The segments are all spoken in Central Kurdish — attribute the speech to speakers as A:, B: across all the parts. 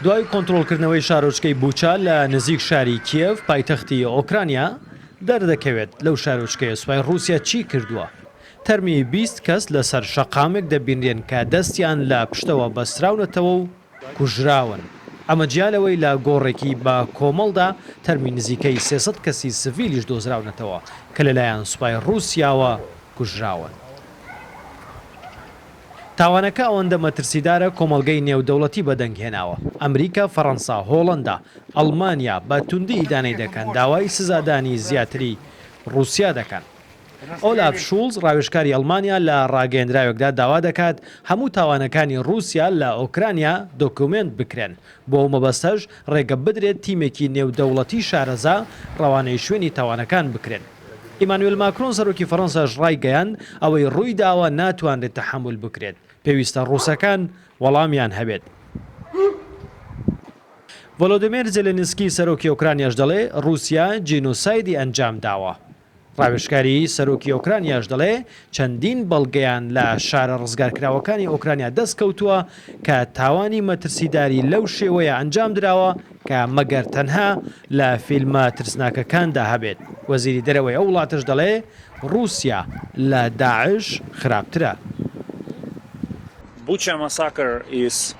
A: دوای کۆنترۆڵکردنەوەی شارۆچکەی بوچا لە نزیک شاری کیێڤ پایتەختی ئۆکرانیا، دەردەکەوێت لەو شارۆچکەیە سوپای ڕووسیا چی کردووە. تەرمی بیست کەس لەسەر شەقامێک دەبینرێن کە دەستیان لە پشتەوە بەستراونەتەوە و کوژراون، ئەمە جیا لەوەی لە گۆڕێکی بە کۆمەڵدا تەرمی نزیکەی سێ سەد کەسی سڤیلیش دۆزراونەتەوە کە لەلایەن سوپای ڕووسیاوە کوژراون. تاوانەکە ئەوەندە مەترسیدارە کۆمەڵگەی نێودەوڵەتی بەدەنگهێناوە، ئەمریکا، فەرەنسا، هۆڵەندا، ئەڵمانیا بە توندی ئیدانەی دەکەن، داوای سزادانی زیاتری ڕووسیا دەکەن. ئۆلاف شوڵز ڕاوێژکاری ئەڵمانیا لە ڕاگەیەندراوێکدا داوا دەکات هەموو تاوانەکانی ڕووسیا لە ئۆکرانیا دۆکیومێنت بکرێن، بۆ ئەو مەبەستەش ڕێگە بدرێت تیمێکی نێودەوڵەتی شارەزا ڕەوانەی شوێنی تاوانەکان بکرێن. ئیمانوێل ماکرۆن سەرۆکی فەرەنساش ڕایگەیاند، ئەوەی ڕوویداوە ناتوانرێت تەحەمول بکرێت، پێویستە ڕووسەکان وەڵامیان هەبێت. ڤۆلۆدیمێر زێلێنسکی سەرۆکی ئۆکرانیاش دەڵێ، ڕووسیا جینۆسایدی ئەنجامداوە. ڕاوێژکاری سەرۆکی ئۆکرانیاش دەڵێ، چەندین بەڵگەیان لە شارە ڕزگارکراوەکانی ئۆکرانیا دەست کەوتووە کە تاوانی مەترسیداری لەو شێوەیە ئەنجام دراوە کە مەگەر تەنها لە فیلمە ترسناکەکاندا هەبێت. وەزیری دەرەوەی ئەو وڵاتەش دەڵێ ڕووسیا لە داعش خراپترە. Bucha Massacre is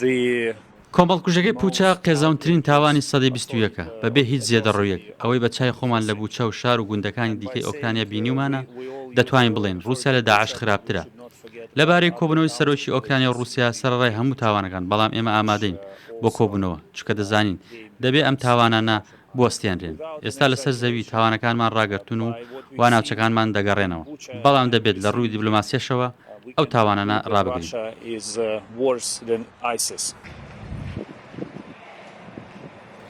B: the کۆمەڵکوژەکەی پووچە قێزەونترین تاوانی سەدەی بیست و یەکە، بەبێ هیچ زێدەڕۆییەک، ئەوەی بە چای خۆمان لە بووچە و شار و گوندەکانی دیکەی ئۆکرانیا بینیومانە، دەتوانین بڵێین ڕووسیا لە داعش خراپترە. لەبارەی کۆبوونەوەی سەرۆکی ئۆکرانیا و ڕووسیا سەرەڕای هەموو تاوانەکان، بەڵام ئێمە ئامادەین بۆ کۆبوونەوە، چونکە دەزانین دەبێ ئەم تاوانانە بوەستێنرێن. ئێستا لەسەر زەوی تاوانەکانمان ڕاگرتوون و وا ناوچەکانمان دەگەڕێنەوە، بەڵام دەبێت لە ڕووی دیبلۆماسییەشەوە ئەو تاوانانە ڕابگرین.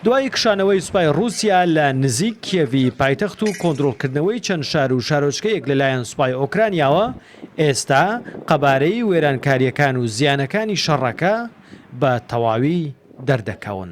A: دوای کشانەوەی سوپای ڕووسیا لە نزیک کیێڤی پایتەخت و کۆنترۆڵکردنەوەی چەند شار و شارۆچکەیەک لەلایەن سوپای ئۆکرانیاوە، ئێستا قەبارەی وێرانکارییەکان و زیانەکانی شەڕەکە، بە تەواوی دەردەکەون.